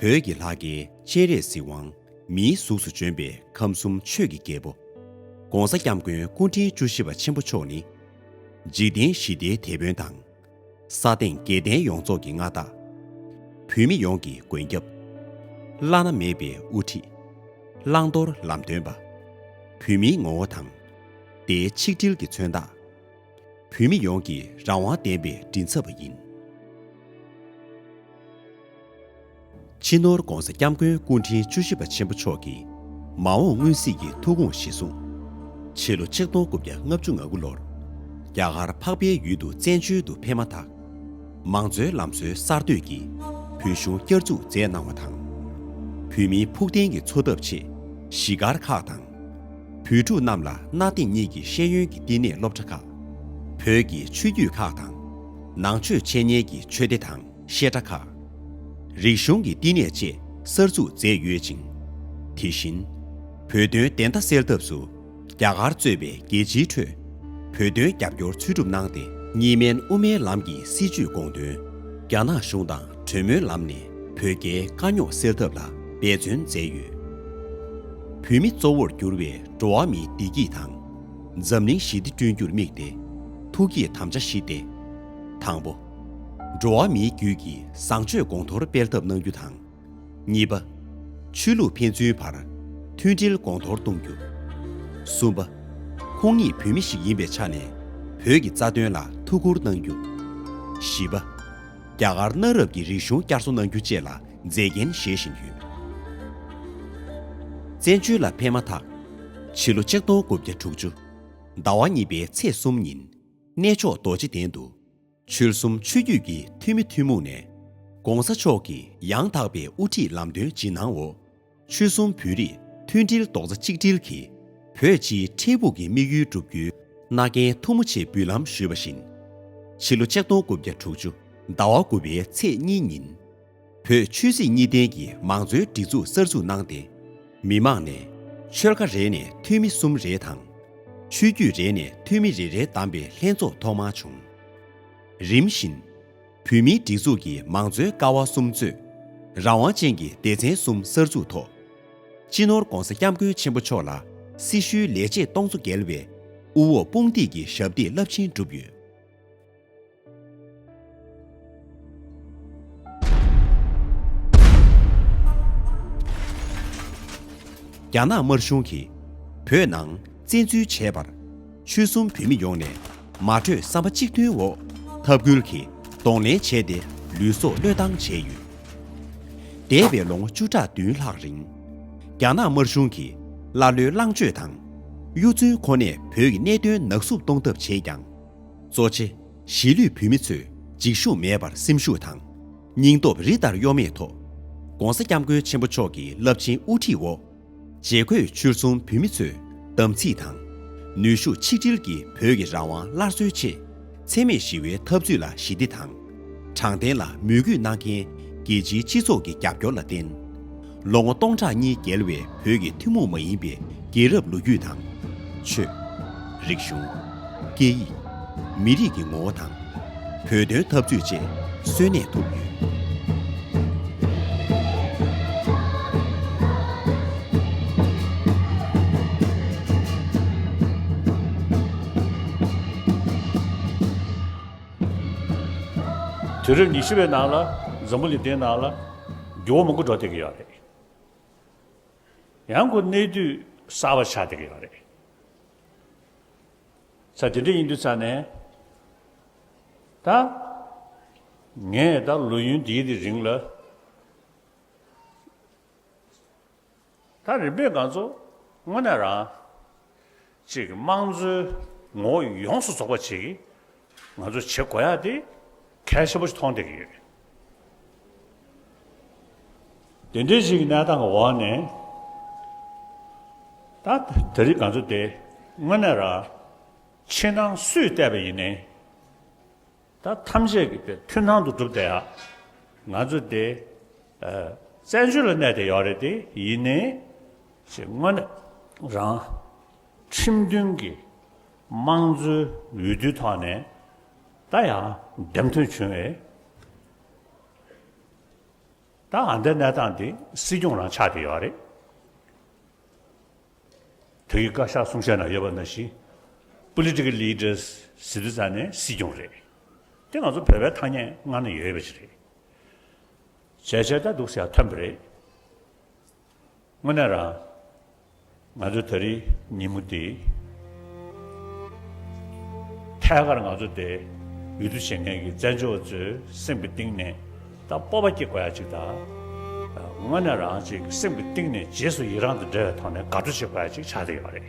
བོད་ཀྱི་ལྷ་སྐལ་སྤྱན་རས་གཟིགས་དབང། མིའི་གཟུགས་སུ་བྱོན་པའི་ཁམས་གསུམ་ཆོས་ཀྱི་རྒྱལ་པོ། ྋགོང་ས ྋསྐྱབས་མགོན་སྐུ་ཕྲེང་བཅུ་བཞི་པ་ཆེན་པོ་མཆོག་ནི། འཇིག་རྟེན་ཞི་བདེའི་དེད་དཔོན་དང། ས་སྟེང་རྒྱལ་བསྟན་ཡོངས་རྫོགས་ཀྱི་མངའ་བདག། བོད་མི་ཡོངས་ཀྱི་མགོན་སྐྱབས། བླ་ན་མེད་པའི་དབུ་ཁྲིད། བླང་དོར་ལམ་སྟོན་པ། བོད་མིའི་ངོ་བོ་དང། བདེའི་ཆིག་སྒྲིལ་གྱི་མཚོན་རྟགས། བོད་མི་ཡོངས་ཀྱི་རང་དབང་བདེན་པའི་མགྲིན་ཚབ་པ་ཡིན། ཕྱི་ནོར ྋགོང་ས ྋསྐྱབས་མགོན་སྐུ་ཕྲེང་བཅུ་བཞི་པ་ཆེན་པོ་མཆོག་གིས་མ་འོངས་སྔོན་གཟིགས་ཀྱི་ཐུགས་དགོངས་གཞི་བཟུང། ཕྱི་ལོ་ཆིག་སྟོང་དགུ་བརྒྱ་ལྔ་བཅུ་ང་དགུ་ལོར་རྒྱ་གར་འཕགས་པའི་ཡུལ་དུ་བཙན་བྱོལ་དུ་ཕེབས་མ་ཐག་མང་གཙོའི་ལམ་སྲོལ་གསར་གཏོད་ཀྱིས་བོད་གཞུང་བསྐྱར་འཛུགས་མཛད་གནང་བ་དང། བོད་མིའི་ཕུགས་བརྟན་གྱི་འཚོ་ཐབས་ཆེད་གཞིས་སྒར་ཁག་དང། བུ་ཕྲུག་རྣམས་ལ་གནའ་དེང་གཉིས་ཀྱི་ཤེས་ཡོན་གྱི་བསྟི་གནས་སློབ་གྲྭ་ཁག། བོད་ཀྱི་ཆོས་བརྒྱུད་ཁག་དང། ནང་ཆོས་འཆད་ཉན་གྱི་ཆོས་སྡེ་དང་བཤད་གྲྭ་ཁག། རིག་གཞུང་གི་བསྟི་གནས་བཅས་གསར་འཛུགས་མཛད་ཡོད་ཅིང། དེ་བཞིན། བོད་དོན་བདེན་མཐའ་སེལ་ཐབས་སུ་རྒྱ་གར་གཙོས་པའི་རྒྱལ་སྤྱིའི་ཁྲོད་བོད་དོན་རྒྱབ་སྐྱོར་འཚོལ་སྒྲུབ་གནང་སྟེ། གཉིས་སྨན་དབུ་མའི་ལམ་གྱི་སྲིད་བྱུས་དགོངས་དོན་རྒྱ་ནག་གཞུང་དང་གྲོས་མོལ་ལམ་ནས་བོད་རྒྱའི་དཀའ་རྙོག་སེལ་ཐབས་ལ་འབད་བརྩོན་མཛད་ཡོད། བོད་མི་གཙོ་བོར་གྱུར་བའི་འགྲོ་བ་མིའི་བདེ་སྐྱིད་དང། འཛམ་གླིང་ཞི་བདེ་བསྐྲུན་རྒྱུར་དམིགས་ཏེ་ཐུགས་ཀྱི་དམ་བཅའ་བཞི་སྟེ། དང་པོ། འགྲོ་བ་མིའི་རྒྱུད་ཀྱི་བཟང་སྤྱོད་གོང་མཐོར་སྤེལ་ཐབས་གནང་རྒྱུ་དང། གཉིས་པ། ཆོས་ལུགས་ཕན་ཚུན་བར་མཐུན་སྒྲིལ་གོང་མཐོར་གཏོང་རྒྱུ། གསུམ་པ། ཁོང་ཉིད་བོད་མི་ཞིག་ཡིན་པའི་ཆ་ནས་བོད་ཀྱི་རྩ་དོན་ལ་ཐུགས་ཁུར་གནང་རྒྱུ། བཞི་པ། རྒྱ་གར་གནའ་རབས་ཀྱི་རིག་གཞུང་བསྐྱར་གསོ་གནང་རྒྱུ་བཅས་ལ་མཛེས་རྒྱན་བཞེས་བཞིན་ཡོད། བཙན་བྱོལ་ལ་ཕེབས་མ་ཐག་ཕྱི་ལོ་ཆིག་སྟོང་དགུ་བརྒྱ་དྲུག་ཅུ་ཟླ་བ་གཉིས་པའི་ཚེས་གསུམ་ཉིན་གནས་མཆོག་རྡོ་རྗེ་གདན་དུ་ཆོལ་གསུམ་ཆོས་བརྒྱུད་ཀྱི་འཐུས་མི་ཐུན་མོང་ནས ྋགོང་ས་མཆོག་གི་ཡང་དག་པའི་དབུ་ཁྲིད་ལམ་སྟོན་ཇི་གནང་འོག་ཆོལ་གསུམ་བོད་རིགས་མཐུན་སྒྲིལ་རྡོག་རྩ་གཅིག་སྒྲིལ་གྱིས། བོད་སྤྱིའི་འཕྲལ་ཕུགས་ཀྱི་དམིགས་ཡུལ་བསྒྲུབ་རྒྱུའི་མནའ་གན་ཐུགས་མོ་ཆེ་འབུལ་ལམ་ཞུས་པ་བཞིན། ཕྱི་ལོ་ཆིག་སྟོང་དགུ་བརྒྱ་དྲུག་ཅུ་ཟླ་བ་དགུ་པའི་ཚེས་གཉིས་ཉིན། བོད་ཆོས་སྲིད་གཉིས་ལྡན་གྱི་མང་གཙོའི་སྒྲིག་འཛུགས་གསར་འཛུགས་གནང་སྟེ། མི་མང་ནས་ཆོལ་ཁ་རེ་ནས་འཐུས་མི་གསུམ་རེ་དང། ཆོས་བརྒྱུད་རེ་ནས་འཐུས་མི་རེ་རེ་བདམས་པའི་ལྷན་ཚོགས་ཐོག་མ་བྱུང། རིམ་བཞིན། བོད་མིའི་སྒྲིག་འཛུགས་ཀྱི་མང་གཙོའི་ཀ་བ་གསུམ་གཙོས། རང་དབང་ཅན་གྱི་སྡེ་ཚན་གསུམ་གསར་འཛུགས་ཐོག། སྤྱི་ནོར ྋགོང་ས ྋསྐྱབས་མགོན་ཆེན་པོ་མཆོག་ལ་སྲི་ཞུའི་ལས་བྱེད་སྟོང་ཚོ་བརྒལ་བས་དབུ་འོག་དཔུང་འདེགས་ཀྱི་ཞབས་འདེགས་རླབས་ཆེན་བསྒྲུབས་ཡོད། རྒྱ་ནག་དམར་གཞུང་གིས་བོད་ནང་བཙན་འཛུལ་བྱས་པར། ཆོལ་གསུམ་བོད་མི་ཡོངས་ནས་མ་གྲོས་བསམ་པ་གཅིག་མཐུན་འོག་འཐབ་ཁུལ་གྱིས་གདོང་ལེན་བྱས་ཏེ་ལུས་སྲོག་བློས་བཏང་བྱས་ཡོད། འདས་པའི་ལོ་ངོ་བཅུ་ཕྲག་བདུན་ལྷག་རིང། རྒྱ་ནག་དམར་གཞུང་གིས་ཀླ་ཀློའི་ལངས་སྤྱོད་དང། གཡོ་རྫུན་ཁོ་ནས་བོད་ཀྱི་གནད་དོན་ནག་བསུབ་གཏོང་ཐབས་བྱས་ཀྱང། གཙོ་ཆེ་གཞིས་ལུས་བོད་མི་ཚོས་འཇིགས་ཞུམ་མེད་པར་སེམས་ཤུགས་དང། སྙིང་སྟོབས་རི་ལྟར་གཡོ་མེད་ཐོག། ྋགོང་ས ྋསྐྱབས་མགོན་ཆེན་པོ་མཆོག་གི་རླབས་ཆེན་དབུ་ཁྲིད་འོག། བརྗེ་བཀོད་ཕྱིར་ཚོང་བོད་མི་ཚོས་དམ་ཚིག་དང། ནུས་ཤུགས་ཆིག་སྒྲིལ་གྱིས་བོད་ཀྱི་རང་དབང་སླར་གསོའི་ཆེད། འཚེ་མེད་ཞི་བའི་འཐབ་རྩོད་ལ་ཞི་བདེ་དང། དྲང་བདེན་ལ་མོས་གུས་གནང་མཁན་རྒྱལ་སྤྱིའི་སྤྱི་ཚོགས་ཀྱི་རྒྱབ་སྐྱོར་ལ་བརྟེན། ལོ་ངོ་སྟོང་ཕྲག་གཉིས་བརྒལ་བའི་བོད་ཀྱི་ཐུན་མོང་མ་ཡིན་པའི་རྒྱལ་རབས་ལོ་རྒྱུས་དང། ཆོས། རིག་གཞུང། སྐད་ཡིག། མི་རིགས་ཀྱི་ངོ་བོ་དང། བོད་དོན་འཐབ་རྩོད་བཅས་གསོན་གནས་ཐུབ་ཡོད། དུས་རབས་ཉི་ཤུ་བའི་ནང་ལ་འཛམ་བུ་ལི་ཏའི་ནང་ལ་འགྱུར་བ་མང་པོ་འགྲོ་བསྡད་ཀྱི་ཡོད་རེད། ཡང་སྒོས་གནས་དུས་གསར་བ་ཆགས་བསྡད་ཀྱི་ཡོད་རེད། ས་དེ་འདྲ་ཡིན་དུས་ས་ནས། ད། ངས་ད་ལོ་ཡུན་འདིའི་དེ་རིང་ལ། ད་རིམ་པས་འགངས་ཚོ་དངོས་གནས་རང། ཅིག་དམངས་གཙོའི་ངོ་བོ་ཡོངས་སུ་རྫོགས་པ་ཅིག། ང་ཚོ་བྱེད་དགོས་ཡག་དེ་གལ་ཆེན་པོ་ཞིག་མཐོང་བསྡད་ཀྱི་ཡོད། དེ་འདྲའི་ཞིག་གི་གནས་སྟངས་ཀྱི་འོག་ནས། ད་དེ་རིགས་ག་ཚོད་དེ་དངོས་གནས་ར། ཕྱི་ནང་སུས་བལྟས་པ་ཡིན་ནའི། ད་ཐམས་ཅད་ཀྱི་དེ་མཐུན་སྣང་དུ་བསྒྲུབ་བསྡད་ཡག། ང་ཚོ་དེ། བཙན་བྱོལ་ལ་གནས་བསྡད་ཡོད་རེད་དེ་ཡིན་ནའི། ཞེས་དངོས་གནས་རང། ཁྲིམས་མཐུན་གྱི་དམངས་གཙོའི་འོས་བསྡུའི་ཐོག་ནས་ད་ཡང་འདེམས་ཐོན་བྱུང་བས། ད་ང་འདི་གནས་སྟངས་འདི་སྲིད་སྐྱོང་རང་ཆགས་ཀྱི་ཡོད་རེད། བོད་ཀྱི་བཀའ་ཤག་གསུང་བཤད་ནང་ཡོད་པ་འདྲ་བཞིན Political Leaders ཟེར་དུས་ཙང་ནས་སྲིད་སྐྱོང་རེད། དེ་ང་ཚོ་བོད་པའི་ཐ་སྙད་ངང་ནས་ཡོད་པ་ཞིག་རེད། བྱས་བྱས་ལྟ་འདུག་ཟེར་ཡག་ཐོན་པོ་རེད། དངོས་གནས་རང། ང་ཚོའི་ད་རེའི་ཉིན་མོ་འདི། ཐད་ཀར་ང་ཚོ་དེ་འོས་བསྡུ་བྱེད་མཁན་གྱི་བཙན་བྱོལ་བ་ཚོའི་སེམས་ཀྱི་གཏིང་ནས་ད་སྤོབས་པ་སྐྱེ་དགོས་ཡ་ཅིག་ད། དངོས་གནས་རང་བཅས་ཀྱི་སེམས་ཀྱི་གཏིང་ནས་རྗེས་སུ་ཡི་རང་དང་འབྲེལ་བའི་ཐོག་ནས་དགའ་སྤྲོ་བྱེད་དགོས་ཡ་ཅིག་ཆགས་བསྡད་ཡོད་པ་རེད།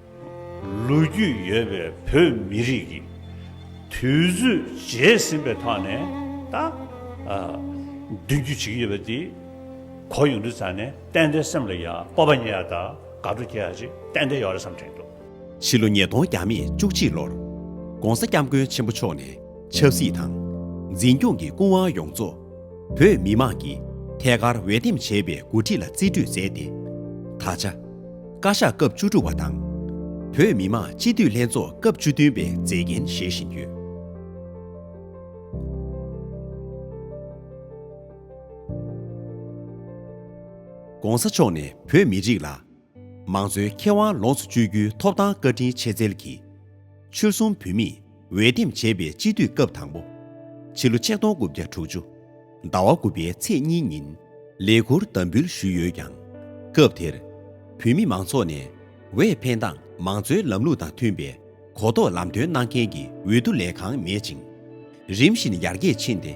ལོ་རྒྱུས་ཡོད་པའི་བོད་མི་རིགས་ཀྱི་དུས་ཚོད་བརྗེས་ཟིན་པའི་ཐོག་ནས་ད་མདུན་བསྐྱོད་བྱེད་ཀྱི་ཡོད་པ་དེ་གོ་ཡོང་དུས་ཙང་ནས་ཏན་ཏན་སེམས་ལ་ཡང་སྤོབས་པ་ཉེ་ཡ་དང་དགའ་སྤྲོ་སྐྱེ་ཡ་ཅིག་ཏན་ཏན་ཡོད་རེད་བསམ་དྲན་འདུག། ཕྱི་ལོ་ཉིས་སྟོང་བརྒྱ་མེད་བཅུ་གཅིག་ལོར། ྋགོང་ས ྋསྐྱབས་མགོན་ཆེན་པོ་མཆོག་ནས་ཆབ་སྲིད་དང། འཛིན་སྐྱོང་གི་སྐུ་དབང་ཡོངས་རྫོགས་བོད་མི་དམངས་ཀྱིས་ཐད་ཀར་འོས་འདེམས་བྱས་པའི་མགོ་ཁྲིད་ལ་རྩིས་སྤྲོད་མཛད་དེ། ད་ཆ། བཀའ་ཤག་སྐབས་བཅུ་དྲུག་པ་དང། བོད་མི་དམངས་སྤྱི་འཐུས་ལྷན་ཚོགས་སྐབས་བཅུ་བདུན་པའི་མཛད་འགན་བཞེས་བཞིན་ཡོད། ྋགོང་ས་མཆོག་ནས་བོད་མི་རིགས་ལ་མང་གཙོའི་ཁེ་དབང་ལོངས་སུ་སྤྱོད་རྒྱུའི་ཐོབ་ཐང་བཀའ་དྲིན་ཆེ་བརྩེར་གྱིས། ཆོལ་གསུམ་བོད་མིས་འོས་འདེམས་བྱས་པའི་སྤྱི་འཐུས་སྐབས་དང་པོ། ཕྱི་ལོ་ཆིག་སྟོང་དགུ་བརྒྱ་དྲུག་ཅུ། ཟླ་བ་དགུ་པའི་ཚེས་གཉིས་ཉིན། ལས་འཁུར་དམ་འབུལ་ཞུས་ཡོད་ཀྱང། སྐབས་དེར། བོད་མི་མང་ཚོགས་ནས། འོས་འཕེན་སྟངས་མང་གཙོའི་ལམ་ལུགས་དང་མཐུན་པའི་གོ་རྟོགས་ལམ་སྟོན་གནང་མཁན་གྱི་འོས་བསྡུ་ལས་ཁང་མེད་ཅིང། རིམ་བཞིན་ཡར་རྒྱས་ཕྱིན་ཏེ།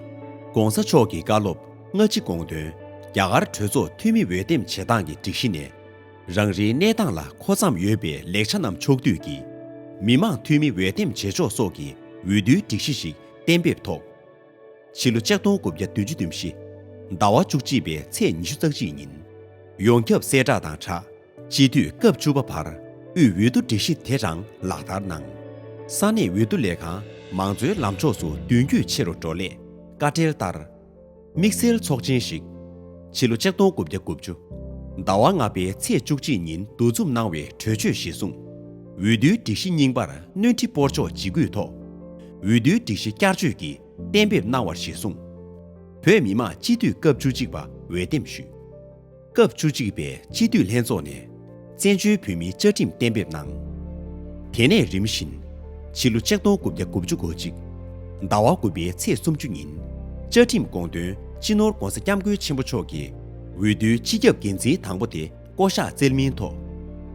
ྋགོང་ས་མཆོག་གི་བཀའ་སློབ་སྔ་ཕྱི་དགོངས་དོན། རྒྱ་གར་གྲོས་ཚོགས་འཐུས་མི་འོས་འདེམས་བྱེད་སྟངས་ཀྱི་སྒྲིག་གཞི་ནས། རང་རེའི་གནས་སྟངས་ལ་མཁོ་བརྩམས་ཡོད་པའི་ལེགས་ཆ་རྣམས་ཕྱོགས་བསྡུས་ཀྱིས། མི་མང་འཐུས་མི་འོས་འདེམས་བྱེད་ཕྱོགས་སོགས་ཀྱི་འོས་བསྡུའི་སྒྲིག་གཞི་ཞིག་གཏན་འབེབས་ཐོག། ཕྱི་ལོ་ལྕགས་སྟོང་དགུ་བརྒྱ་བདུན་ཅུ་བདུན་བཞི། ཟླ་བ་བཅུ་གཅིག་པའི་ཚེས་ཉི་ཤུ་རྩ་གཅིག་ཉིན། ཡོངས་ཁྱབ་གསལ་བསྒྲགས་དང་དྲ་སྤྱི་དུས་སྐབས་བཅུ་པ་བར་དབུས་འོས་བསྡུ་སྒྲིག་གཞི་དེ་རང་ལག་བསྟར་གནང། ས་གནས་འོས་བསྡུ་ལས་ཁང་མང་གཙོའི་ལམ་ཕྱོགས་སུ་མདུན་སྐྱོད་ཆེ་རུ་འགྲོ་སླད་བཀའ་འབྲེལ་ལྟར། དམིགས་བསལ་ཚོགས་ཆེན་ཞིག། ཕྱི་ལོ་ལྕགས་སྟོང་དགུ་བརྒྱ་དགུ་བཅུ། ཟླ་བ་ལྔ་པའི་ཚེས་བཅུ་གཅིག་ཉིན་འདུ་འཛོམས་གནང་བའི་གྲོས་ཆོད་གཞིར་བཟུང། འོས་བསྡུའི་སྒྲིག་གཞི་རྙིང་པར་སྣོན་འཕྲི་སྤོར་ཆོག་འཇིགས་སྐུལ་ཐོག། འོས་བསྡུའི་སྒྲིག་གཞི་བསྐྱར་བཅོས་ཀྱི་གཏན་འབེབས་གནང་བར་གཞིར་བཟུང། བོད་མི་མང་སྤྱི་འཐུས་སྐབས་བཅུ་གཅིག་པ་འོས་འདེམས་ཞུས། སྐབས་བཅུ་གཅིག་པའི་སྤྱི་འཐུས་ལྷན་ཚོགས་ནས་བཙན་བྱོལ་བོད་མིའི་བཅའ་ཁྲིམས་གཏན་འབེབས་གནང། དེ་ནས་རིམ་བཞིན། ཕྱི་ལོ་ཆིག་སྟོང་དགུ་བརྒྱ་དགུ་བཅུ་གོ་གཅིག། ཟླ་བ་དགུ་པའི་ཚེས་སུམ་ཅུ་ཉིན། བཅའ་ཁྲིམས་དགོངས་དོན་སྤྱི་ནོར ྋགོང་ས ྋསྐྱབས་མགོན་ཆེན་པོ་མཆོག་གིས་འོས་བསྡུའི་སྤྱི་ཁྱབ་འགན་འཛིན་དང་པོ་དེ་བསྐོ་གཞག་བསྩལ་མིན་ཐོག་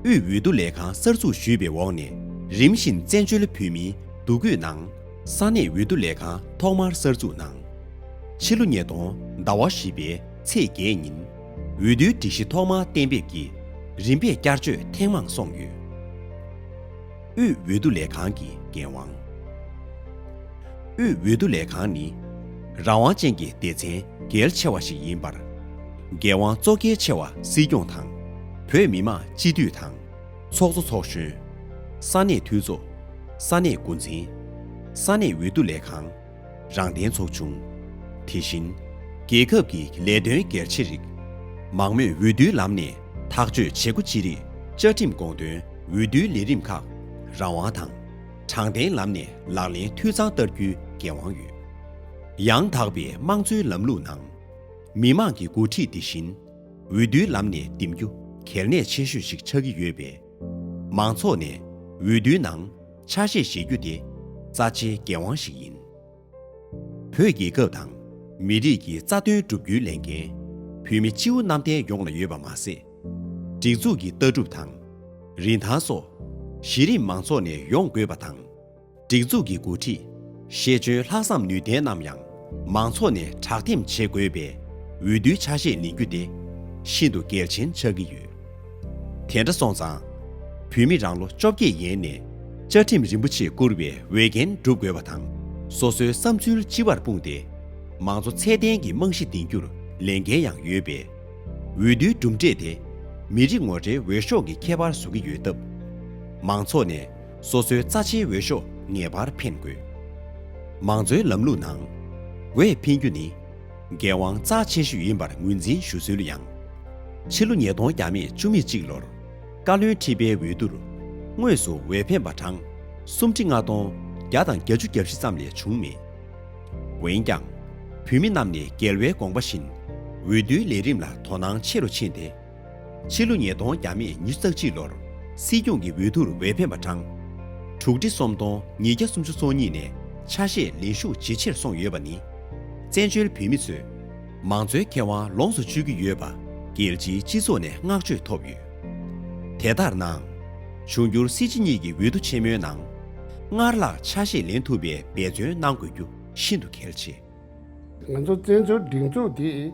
དབུས་འོས་བསྡུ་ལས་ཁང་གསར་འཛུགས་ཞུས་པའི་འོག་ནས་རིམ་བཞིན་བཙན་བྱོལ་བོད་མིའི་འདུ་འགོད་ནང་ས་གནས་འོས་བསྡུ་ལས་ཁང་ཐོག་མར་གསར་འཛུགས་གནང། ཕྱི་ལོ་ཉིས་སྟོང་ཟླ་བ་བཞི་པའི་ཚེས་བརྒྱད་ཉིན་འོས་བསྡུའི་སྒྲིག་གཞི་ཐོག་མ་གཏན་འབེབས་ཀྱིས་རིམ་པས་བསྐྱར་བཅོས་ཐེངས་མང་སོང་ཡོད། དབུས་འོས་བསྡུ་ལས་ཁང་གི་འགན་དབང། དབུས་འོས་བསྡུ་ལས་ཁང་ནི། རང་དབང་ཅན་གྱི་སྡེ་ཚན་གལ་ཆེ་བ་ཞིག་ཡིན་པར། འགན་དབང་གཙོ་གལ་ཆེ་བ་སྲིད་སྐྱོང་དང། བོད་མི་མང་སྤྱི་འཐུས་དང། ཚོགས་གཙོ་ཚོགས་གཞོན། ས་གནས་འཐུས་ཚོགས། ས་གནས་འགོ་འཛིན། ས་གནས་འོས་བསྡུ་ལས་ཁང། རང་བདེན་ཚོགས་ཆུང། དེ་བཞིན། རྒྱལ་ཁབ་ཀྱི་ལས་དོན་སྒེར་ཆེ་རིགས། མང་མོས་འོས་བསྡུའི་ལམ་ནས་ཐག་གཅོད་བྱེད་སྒོ་ཅི་རིགས་བཅའ་ཁྲིམས་དགོངས་དོན་འོས་བསྡུའི་ལས་རིམ་ཁག་རང་དབང་དང། དྲང་བདེན་ལམ་ནས་ལག་ལེན་འཐུས་ཚང་བསྟར་རྒྱུའི་འགན་དབང་ཡོད། ཡང་དག་པའི་དམངས་གཙོའི་ལམ་ལུགས་ནང། མི་དམངས་ཀྱི་འགོ་ཁྲིད་དེ་བཞིན། འོས་བསྡུའི་ལམ་ནས་འདེམས་རྒྱུ་གལ་གནད་ཆེ་ཤོས་ཤིག་ཆགས་ཀྱི་ཡོད་པས། མང་ཚོགས་ནས་འོས་བསྡུའི་ནང་ཆ་ཤས་བཞེས་རྒྱུ་དེ་རྩ་ཆེའི་འགན་དབང་ཞིག་ཡིན། བོད་རྒྱལ་ཁབ་དང་མི་རིགས་ཀྱི་རྩ་དོན་བསྒྲུབ་རྒྱུའི་ལས་འགན་བོད་མི་སྤྱིའུ་གནམ་བསྟན་ཡོངས་ལ་ཡོད་པ་མ་ཟད། སྒྲིག་འཛུགས་ཀྱི་ལྟ་གྲུབ་དང། རིན་ཐང་སོགས་གཞི་རིམ་མང་ཚོགས་ནས་ཡོང་དགོས་པ་དང། སྒྲིག་འཛུགས་ཀྱི་འགོ་ཁྲིད། ཤེས་འཇོན་ལྷག་བསམ་ནུས་ལྡན་རྣམས་ཡང་མང་ཚོགས་ནས་དྲག་འདེམས་བྱེད་དགོས་པའི་འོས་བསྡུའི་ཆ་ཤས་ལེན་རྒྱུ་དེ་ཤིན་ཏུ་གལ་ཆེན་ཆགས་ཀྱི་ཡོད། དེ་འདྲ་སོང་ཙང། བོད་མི་རང་ལོ་བཅོ་བརྒྱད་ཡན་ནས་བཅའ་ཁྲིམས་རིན་པོ་ཆེ་བསྐུར་བའི་འོས་འགན་སྒྲུབ་དགོས་པ་དང་སོ་སོའི་བསམ་ཚུལ་སྤྱི་བར་སྤུངས་ཏེ་མང་གཙོ་ཚད་ལྡན་གྱི་རྨང་གཞི་འདིང་རྒྱུར་ལས་འགན་ཡང་ཡོད་པས། འོས་བསྡུའི་གྲུབ་འབྲས་དེ་མི་རིགས་ངོ་འཕྲད་འོས་ཤོག་གི་ཁྱད་པར་བཟུང་གི་ཡོད་སྟབས། མང་ཚོགས་ནས་སོ་སོའི་རྩ་ཆེའི་འོས་ཤོག་ངེས་པར་འཕེན་དགོས། མང་གཙོའི་ལམ་ལུགས་ནང། འོས་འཕེན་རྒྱུ་ནི། འགན་དབང་རྩ་ཆེ་ཤོས་ཡིན་པར་ངོས་འཛིན་ཞུ་སྲོལ་ཡང། ཕྱི་ལོ་ཉིས་སྟོང་གྱ་མེད་བཅུ་མེད་གཅིག་ལོར། བཀའ་བློན་ཁྲི་པའི་འོས་བསྡུར། དངོས་སུ་འོས་འཕེན་པ་གྲངས། སུམ་ཁྲི་ལྔ་སྟོང་བརྒྱ་དང་གྱ་བཅུ་གྱ་བཞི་ཙམ་ལས་བྱུང་མེད། འོན་ཀྱང། བུད་མེད་རྣམས་ནས་རྒྱལ་བའི་དགོངས་པ་བཞིན། འོས་བསྡུའི་ལས་རིམ་ལ་དོ་སྣང་ཆེ་རུ་ཕྱིན་ཏེ། ཕྱི་ལོ་ཉིས་སྟོང་བརྒྱ་མེད་ཉིས་བརྩ་གཅིག་ལོར་སྲིད་སྐྱོང་གི་འོས་བསྡུར་འོས་འཕེན་པ་བགྲང། དྲུག་ཁྲི་སུམ་སྟོང་ཉིས་བརྒྱ་སུམ་ཅུ་སོ་གཉིས་ནས་ཆ་ཤས་ལེན་ཤུགས་ཇེ་ཆེར་སོང་ཡོད་པ་ནི། བཙན་བྱོལ་བོད་མི་ཚོས་མང་གཙོའི་ཁེ་དབང་ལོངས་སུ་སྤྱོད་ཀྱི་ཡོད་པ་རྒྱལ་སྤྱིའི་སྤྱི་ཚོགས་ནས་བསྔགས་བརྗོད་ཐོབ་ཡོད། དེ་ལྟར་ནའང། འབྱུང་འགྱུར་སྲིད་སྤྱི་གཉིས་ཀྱི་འོས་བསྡུ་ཆེན་མོའི་ནང། སྔར་ལྷག་ཆ་ཤས་ལེན་ཐུབ་པའི་འབད་བརྩོན་གནང་དགོས་རྒྱུ་ཤིན་ཏུ་གལ་ཆེ། ང་ཚོ་བཙན་བྱོལ་སྒྲིག་འཛུགས་འདི་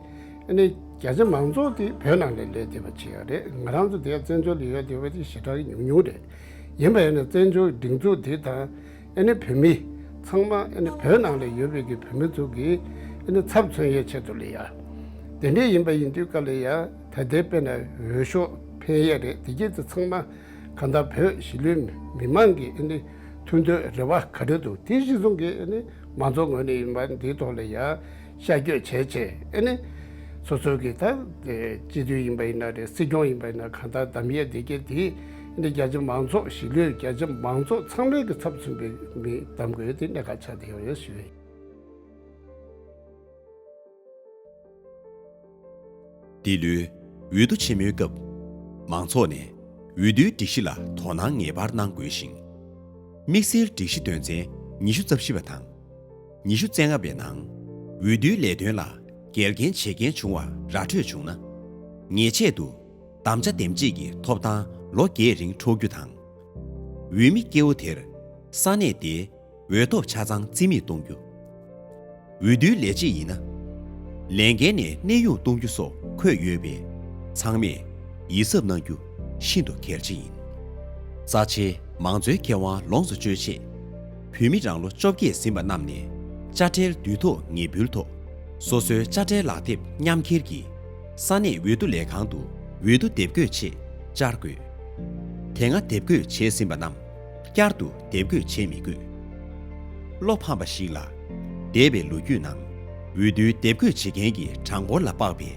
ནི་རྒྱ་ཆེ་མང་ཚོགས་ཀྱིས་བོད་ནང་ལས་ལས་བྱེད་པ་བྱས་པ་རེད་ང་རང་ཚོ་འདི་བཙན་བྱོལ་ལས་ཡོད་དེ་བས་ཞེ་དྲག་ཉུང་ཉུང་རེད་ཡིན་པ་ཡིན་ན་བཙན་བྱོལ་སྒྲིག་འཛུགས་འདི་དང་བོད་མི་ཚང་མ་བོད་ནང་ལས་ཡོད་པའི་གི་བོད་མི་ཚོ་གི་ཚབ་མཚོན་ཡས་ཆེད་དུ་ལས་ཡ་དེ་འདྲས་ཡིན་པ་ཡིན་དུས་ཀ་ལས་ཡ་ད་ལྟའི་དཔེ་ན་འོས་ཤོག་འཕེན་ཡས་རེད་དེ་གྱིས་ཚེ་ཚང་མ་ག་འདའ་བོད་གཞི་ལུས་མི་མང་གི་ཐུགས་འདོད་རེ་བ་ག་རེ་འདུག་དེ་གཞི་བཟུང་གི་མང་ཚོགས་ངོས་ནས་ཡིན་པ་འདིའི་ཐོག་ལ་ཡང་ཤར་བསྐྱོད་བྱས་རྗེས་ཨེ་ནི། སོ་སོ་གིས་ད་སྤྱི་འཐུས་ཡིན་པ་ཡིན་ན་རེད་སྲིད་སྐྱོང་ཡིན་པ་ཡིན་ན་གང་ལྟར་དམ་ཡེ་བདེ་སྐྱིད་དེ་ཨེ་ནི་རྒྱ་ཆེ་མང་ཚོགས་ཞི་ལུས་རྒྱ་ཆེ་མང་ཚོགས་ཚང་མའི་གི་ཚབ་མཚོན་པའི་མི་གདམ་དགོས་ཨེ་ནི་གནད་འགག་ཆགས་བསྡད་ཡོད་རེད་ཞུ། འདི་ལོའི་འོས་བསྡུ་ཆེན་མོའི་སྐབས། མང་ཚོགས་ནས་འོས་བསྡུའི་སྒྲིག་གཞི་ལ་དོ་སྣང་ངེས་པར་གནང་དགོས་ཤིང། དམིགས་བསལ་སྒྲིག་གཞི་དོན་ཚན་ཉི་ཤུ་རྩ་བཞི་པ་དང། ཉི་ཤུ་རྩེ་ལྔ་པའི་ནང། འོས་བསྡུའི་ལས་དོན་ལ་འགལ་རྐྱེན་བྱེད་མཁན་བྱུང་བ་ར་འཕྲོད་བྱུང་ན། ཉེས་ཆད་དུ་བདམ་བྱ་འདེམས་བྱེད་ཀྱི་ཐོབ་ཐང་ལོ་བརྒྱད་རིང་འཕྲོག་རྒྱུ་དང། འོས་མི་སྐྱེ་བོ་དེར་ས་གནས་དེའི། འོས་ཐོབ་ཆ་ཚང་རྩིས་མེད་གཏོང་རྒྱུ། འོས་བསྡུའི་ལས་བྱེད་ཡིན་ན། ལས་འགན་ནས་གནས་དབྱུང་གཏོང་རྒྱུ་སོགས་འཁོད་ཡོད་པས་ཚང་མས་ཡིད་གཟབ་གནང་རྒྱུ་ཤིན་ཏུ་གལ་ཆེ་ཡིན། རྩ་ཆེའི་མང་གཙོའི་ཁེ་དབང་ལོངས་སུ་སྤྱོད་ཆེད། བོད་མི་རང་ལོ་བཅོ་བརྒྱད་ཟིན་པ་རྣམས་ནས་དཔྱ་ཁྲལ་བསྡུ་ཐོ་ངེས་འབུལ་ཐོག་སོ་སོའི་དཔྱ་ཁྲལ་ལག་དེབ་མཉམ་འཁྱེར་གྱིས་ས་གནས་འོས་བསྡུ་ལས་ཁང་དུ་འོས་བསྡུ་དེབ་འགོད་ཆེད་བཅར་དགོས། དེ་སྔ་དེབ་འགོད་བྱས་ཟིན་པ་རྣམས་བསྐྱར་དུ་དེབ་འགོད་བྱེད་མི་དགོས། བློ་ཕམ་པ་ཞིག་ལ། འདས་པའི་ལོ་རྒྱུས་ནང། འོས་བསྡུའི་དེབ་འགོད་བྱེད་མཁན་གྱི་གྲངས་འབོར་ལ་དཔག་པའི་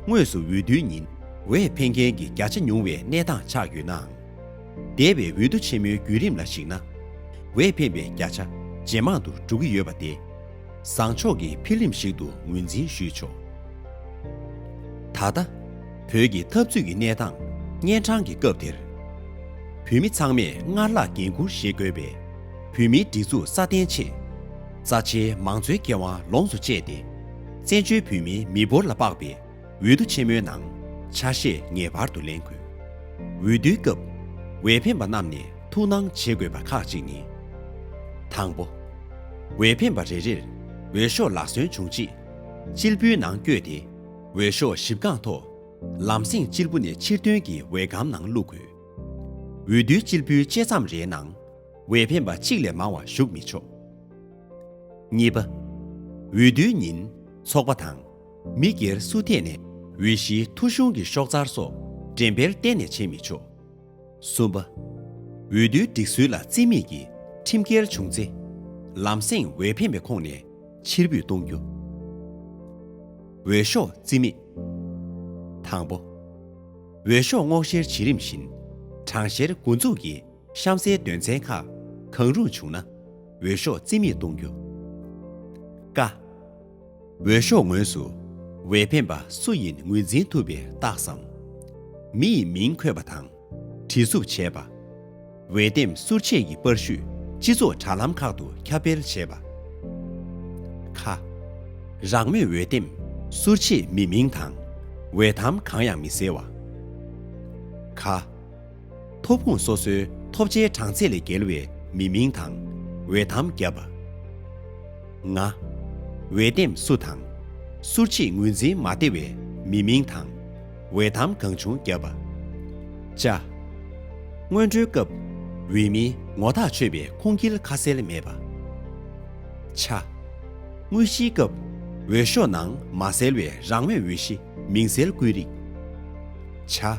དངོས་སུ་འོས་བསྡུའི་ཉིན་འོས་འཕེན་མཁན་གྱི་བརྒྱ་ཆ་ཉུང་བའི་གནས་སྟངས་ཆགས་ཡོད་ནའང། འདས་པའི་འོས་བསྡུ་ཆེན་མོའི་བརྒྱུད་རིམ་ལ་གཞིགས་ན། འོས་འཕེན་པའི་བརྒྱ་ཆ་ཇེ་མང་དུ་འགྲོ་གི་ཡོད་པ་སྟེ། བཟང་ཕྱོགས་ཀྱི་འཕེལ་རིམ་ཞིག་ཏུ་ངོས་འཛིན་ཞུས་ཆོག་ད་ལྟ། བོད་ཀྱི་འཐབ་རྩོད་ཀྱི་གནས་སྟངས་གཉན་འཕྲང་གི་སྐབས་དེར། བུད་མེད་ཚང་མས་སྔར་ལྷག་འགན་འཁུར་བཞེས་དགོས་པས་བུད་མེད་སྒྲིག་འཛུགས་སྲ་བརྟན་ཆེད། རྩ་ཆེའི་མང་གཙོའི་ཁེ་དབང་ལོངས་སུ་སྤྱད་དེ། བཙན་བྱོལ་བོད་མིའི་མི་འབོར་ལ་དཔག་པའི། འོས་བསྡུ་ཆེན་མོའི་ནང་ཆ་ཤས་ངེས་པར་དུ་ལེན་དགོས། འོས་བསྡུའི་སྐབས་འོས་འཕེན་པ་རྣམས་ནས་ཐུགས་སྣང་བྱེད་དགོས་པ་ཁག་ཅིག་ནི། དང་པོ། འོས་འཕེན་པ་རེ་རེར་འོས་ཤོག་ལག་སོན་བྱུང་རྗེས། སྤྱིལ་བུའི་ནང་བསྐྱོད་དེ་འོས་ཤོག་གཞིབ་རྐང་ཐོག་ལམ་སེང་སྤྱིལ་བུ་ནས་ཕྱིར་དོན་གྱི་འོས་སྒམ་ནང་བླུགས་དགོས། འོས་བསྡུའི་སྤྱིལ་བུའི་བཅད་མཚམས་རེའི་ནང་འོས་འཕེན་པ་གཅིག་ལས་མང་བ་ཞུགས་མི་ཆོག། གཉིས་པ། འོས་བསྡུའི་ཉིན་ཚོགས་པ་དང། མི་སྒེར་སུ་ཐད་ནས་འོས་གཞིའི་ཐོ་གཞུང་གི་ཤོག་རྩར་སོགས་འགྲེམ་སྤེལ་གཏན་ནས་བྱེད་མི་ཆོག། གསུམ་པ། འོས་བསྡུའི་སྒྲིག་སྲོལ་ལ་རྩིས་མེད་ཀྱིས་ཁྲིམས་འགལ་བྱུང་ཚེ། ལམ་སེང་འོས་འཕེན་པའི་ཁོངས་ནས་ཕྱིར་འབུད་གཏོང་རྒྱུ། འོས་ཤོག་རྩིས་མེད། དང་པོ། འོས་ཤོག་སྔོག་བཤེར་བྱེད་རིམ་བཞིན་གྲངས་བཤེར་འགོ་འཛུགས་ཀྱིས། གཤམ་གསལ་དོན་ཚན་ཁག་གང་རུང་བྱུང་ན། འོས་ཤོག་རྩིས་མེད་གཏོང་རྒྱུ། ཀ། འོས་ཤོག་ངོས་སུ་འོས་འཕེན་པ་སུ་ཡིན་ངོས་འཛིན་ཐུབ་པའི་རྟགས་སམ། མི་ཡི་མིང་འཁོད་པ་དང། བྲིས་བསུབ་བྱས་པ། འོས་འདེམས་ཟུར་ཆད་ཀྱི་པར་བཤུས་སྤྱི་ཚོགས་དྲ་ལམ་ཁག་ཏུ་ཁྱབ་སྤེལ་བྱས་པ། ཁ། རང་མོས་འོས་འདེམས་ཟུར་ཆད་མི་མིང་དང་འོས་ཐམ་གང་ཡང་མི་གསལ་བ། གྷ། མཐོ་སྤུངས་སོ་སོའི་ཐོབ་བྱའི་གྲངས་ཚད་ལས་བརྒལ་བའི་མི་མིང་དང། འོས་ཐམ་བརྒྱབ་པ། ལྔ། འོས་འདེམས་བསུ་དང། སུར་ཕྱིས་ངོས་འཛིན་མ་བདེ་བའི་མི་མིང་དང། འོས་ཐམ་གང་བྱུང་བརྒྱབ་པ། བཅའ། སྔོན་འགྲོའི་སྐབས། འོས་མིའི་ངོ་ཐག་ཆོད་པའི་ཁུངས་སྐྱེལ་ཁ་གསལ་མེད་པ། ཆ། དངོས་གཞིའི་སྐབས། འོས་ཤོག་ནང་མ་གསལ་བའི་རང་འོས་འོས་གཞི་མིང་གསལ་བཀོད་རིགས། ཆ།